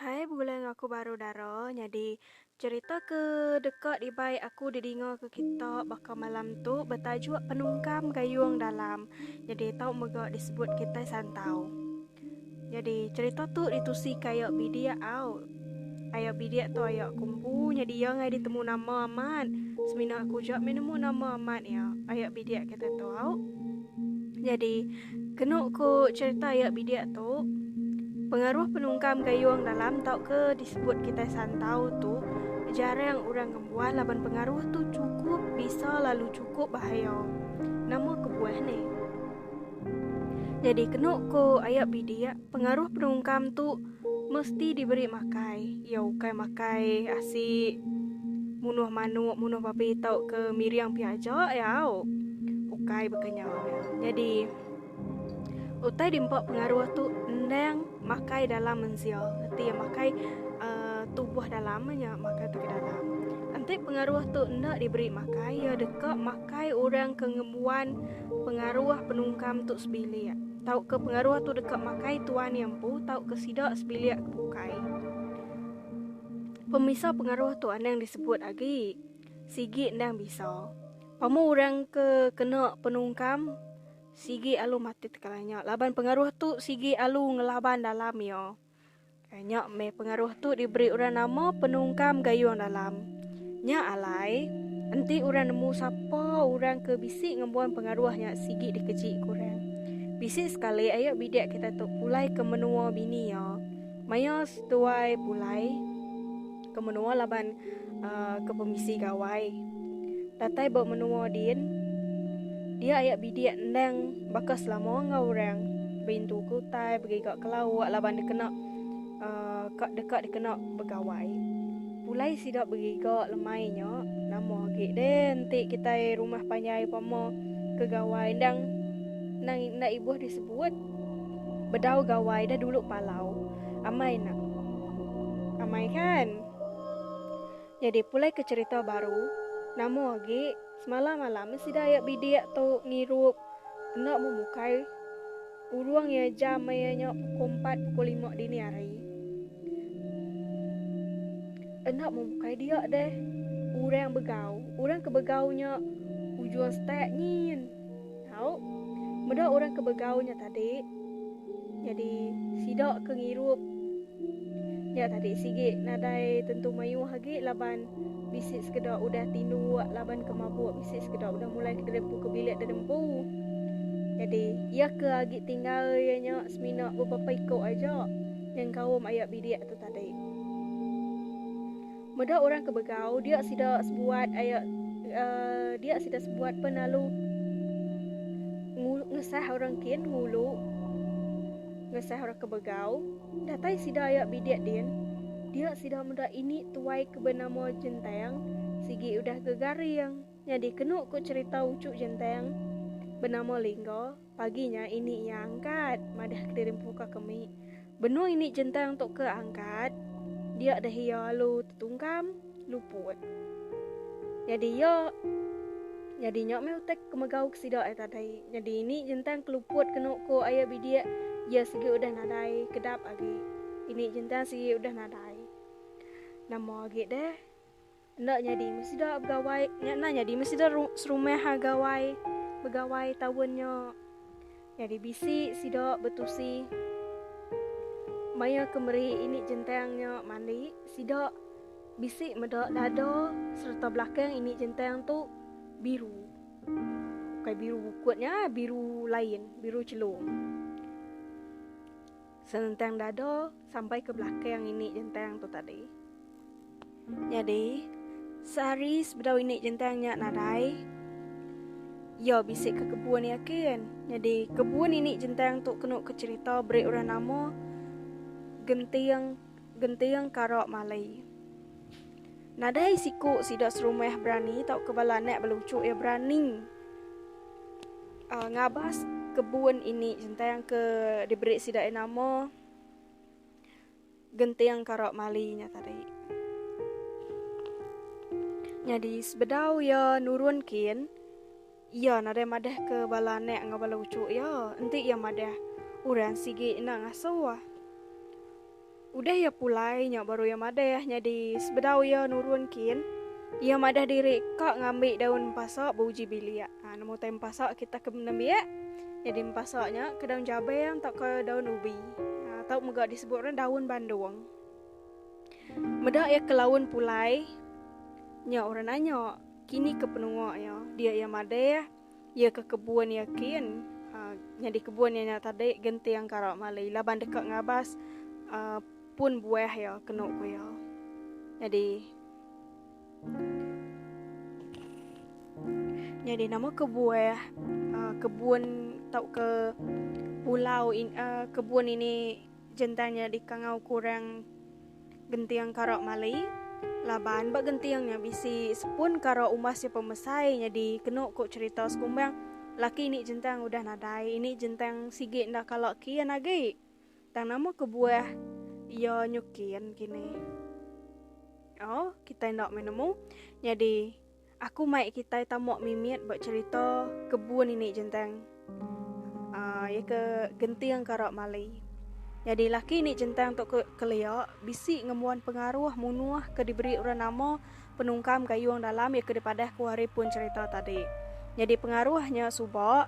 Hai begulai enggau aku baru dara nyadi cherita ke deka dibai aku didinga ke kita baka malam tu betajuk penungkam gayung dalam nyadi tau mega disebut kitai santau. Nyadi cerita tu ditusi ke ayo bidik au. Ayo bidik tu ayo aku empu nyadi iya engai ditemu nama amat. Semina aku ja meh nemu nama amat iya, ayo bidik kita tu au. Nyadi kenu ku cerita ayo bidik tu pengaruh penungkam gayung dalam tauka disebut kitai santau tu jarang orang ngembuan laban pengaruh tu chukup bisa lalu chukup bahaya. Nama kebuah ne? Nyadi kenu ko aya bidik pengaruh penungkam tu mesti diberi makai iya ukai makai asi munuh manuk munuh babi tau ke miring pia aja iya au ukai baka nya nyadi utai dimpa pengaruh tu endang makai dalam mensia reti iya makai uhh tubuh dalam nya makai ke dalam enti pengaruh tu enda diberi makai iya deka makai. Bukai orang ke ngembuan pengaruh penungkam tu sebilik, tauka pengaruh tu deka makai tuan iya empu tauka sida sebilik ke bukai. Pemisa pengaruh tu anang disebut agi sigi endang bisa. Pemau orang ke kena penungkam sigi alu mati tekalanya laban pengaruh tu sigi alu ngelaban dalam iya. Nya meh pengaruh tu diberi orang nama penungkam gayung dalam. Nya alai, enti orang nemu sapa orang ke bisi ngembuan pengaruh nya sigi dikeji ku orang. Bisi sekali ayo bidik kita tu pulai ke menua bini iya. Maya seduai pulai. ke menua laban uh, ke pemisi gawai. Datai ba menua din, dia ayak bidik endang baka selama enggak orang berintu ke utai begiga ke lauk laban dikena uh, kak dekat dikena begawai. Pulai sida begiga lemai nya nama agi deh enti kita rumah panjai pama ke gawai endang nang nda ibuh disebut bedau gawai dah dulu palau. Amai nak. Amai kan. Nyadi pulai ke cerita baru, nama agi semalam alam sida ayak bidik tu ngirup enda memukai urung iya jam maya nya pukul empat pukul lima dini hari. Enda memukai dia deh. Urang begau, urang ke begau nya ujung stek nyin. Tau, meda orang ke begau nya tadi. Nyadi sida ke ngirup nya tadi sigi nadai tentu mayuh agi laban bisi sekeda udah tinduk laban ke mabuk bisi sekeda udah mulai ke derempu ke bilik derempu. Nyadi iya ke agi tinggal iya nya semina beberapa iku aja nyengkaum aya bilik tu tadi. Meda orang ke begau dia sida sebuat aya dia sida sebuat pen lalu ngesah orang kin ngulu ngesah orang ke begau datai sida aya bidik din dia sida meda ini tuai ke benama jentang sigi udah gegaring nyadi kenu ku cerita ucu jentang benama lingga. Pagi nya ini iya angkat madah kediri empuka ke mik. Benung ini jentang tu ke angkat, dia dah iya alu tetungkam luput. Nyadi iya nyadi nya meh utai kemegau ke sida ai tadai. Nyadi ini jentang ke luput kenu ko aya bidik iya sigi udah nadai kedap agi. Ini jentang sigi udah nadai. Nama agi deh? Enda nyadi meh sida begawai. Nya enda nyadi meh sida serumah ha gawai begawai taun nya. Nyadi bisi sida betusi maya ke meri ini jentang nya mandi sida bisi meda dada sereta belakang ini jentang tu biru. Bukai biru bukut nya, biru lain, biru chelung. Senentang dada sampai ke belakang ini jentang tu tadi. Nyadi, sehari sebedau ini jentang nya nadai, iya bisi ke kebun iya kin. Nyadi, kebun ini jentang tu kenu ke cerita beri orang nama Genting Genting Kara Malay. Nadai siku sida serumah berani tauka bala anak beluchuk iya berani uh, ngabas kebun ini jentang ke diberi sida iya nama Genting Kara Malay nya tadi. Nyadi sebedau iya nurun kin Iya nadai madahka bala anak enggau bala uchu iya, enti iya madah, Orang sigi enda ngasuh ah. Udah iya pulai nya baru iya madah nyadi sebedau iya nurun kin, iya madah diri ka ngambi daun empasa beuji bilik. Ha nemu utai empasa kita ke nembiak nyadi empasa nya ke daun jabang tauka daun ubi. Ha tau mega disebut orang daun bandung. Meda iya ke laun pulai nya orang nanya, Kini ke penua iya, dia iya madah, iya ke kebun iya kin uh, nyadi kebun iya nya tadi genting kara mali laban deka ngabas uh, pun buah iya kenu ku iya. Nyadi Nyadi nama ke buah uh, kebun tau ke pulau in, uh, kebun ini Jentan nya dikangau kurang genting kara mali laban ba genting nya bisi sepun kara umas iya pemesai nyadi kenu ku cherita sekumbang laki ini jentan udah nadai ini jentan sigi enda kala kin agi tang nama kebuah iya nyu kin kini oh kitai enda meh nemu nyadi Aku mai kitai tamuak mimit ba cerita kebun ini jentang. Uh, ya ke genting karak mali. Jadi laki ini jentang tu ke kelia bisi ngembuan pengaruh munuh ke diberi orang nama penungkam gayung dalam ya ke dipadah ku hari pun cerita tadi. Jadi pengaruhnya suba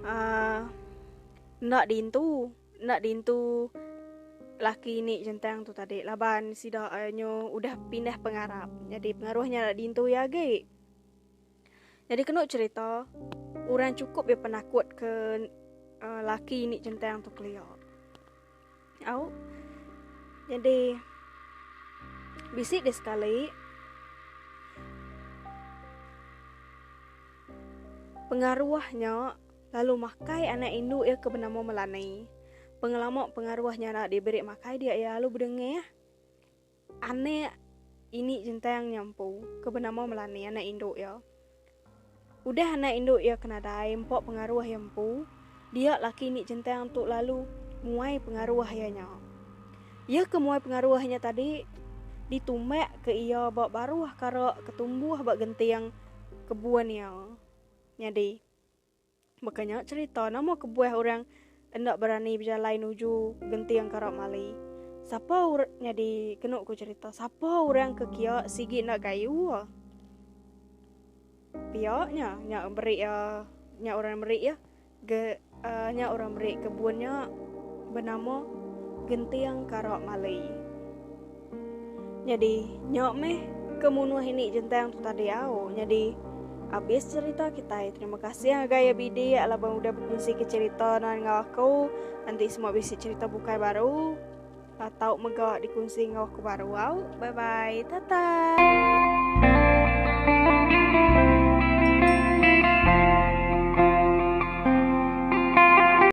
uh, ah, ndak diintu. Enda dintu laki ini jentang tu tadi laban sida eh, nyu udah pindah pengarap. Jadi pengaruh nya enda dintu iya agi. Jadi kenu cerita orang cukup dia penakut ke uh, laki ini jentang tu kelia. Au. Jadi bisi dia sekali pengaruhnya lalu makai anak indu iya ke benama Melanie. Pengelama pengaruh nyara diberi makai dia iya lalu bedengah anak ini jentang nyampu ke benama Melanie anak indu iya. Udah anak indu iya ke nadai empa pengaruh iya empu, dia laki ini jentang tu lalu muai pengaruh iya nya. Iya ke muai pengaruh iya nya tadi ditumbak ke iya ba baruh kara ke tumbuh ba genting kebun iya. Nyadi, Baka nya cerita nama kebuah orang enda berani bejalai nuju genting karap mali. Sapa orang nyadi kenu ku cerita? Sapa orang ke kia sigi enda kayu? Pia nya nya beri ya uh, nya orang beri ya. Ge, uh, nya orang beri kebun nya bernama genting karap mali. Nyadi nya meh ke munuh ini jentang tu tadi au. Nyadi abis cerita kitai. Terima kasih ngagai ya bidi ya laban udah bekunsi ke cerita nuan enggau aku. Nanti semua bisi cerita bukai baru ah, tau mega dikunsi enggau aku baru au. Bye bye. Tata.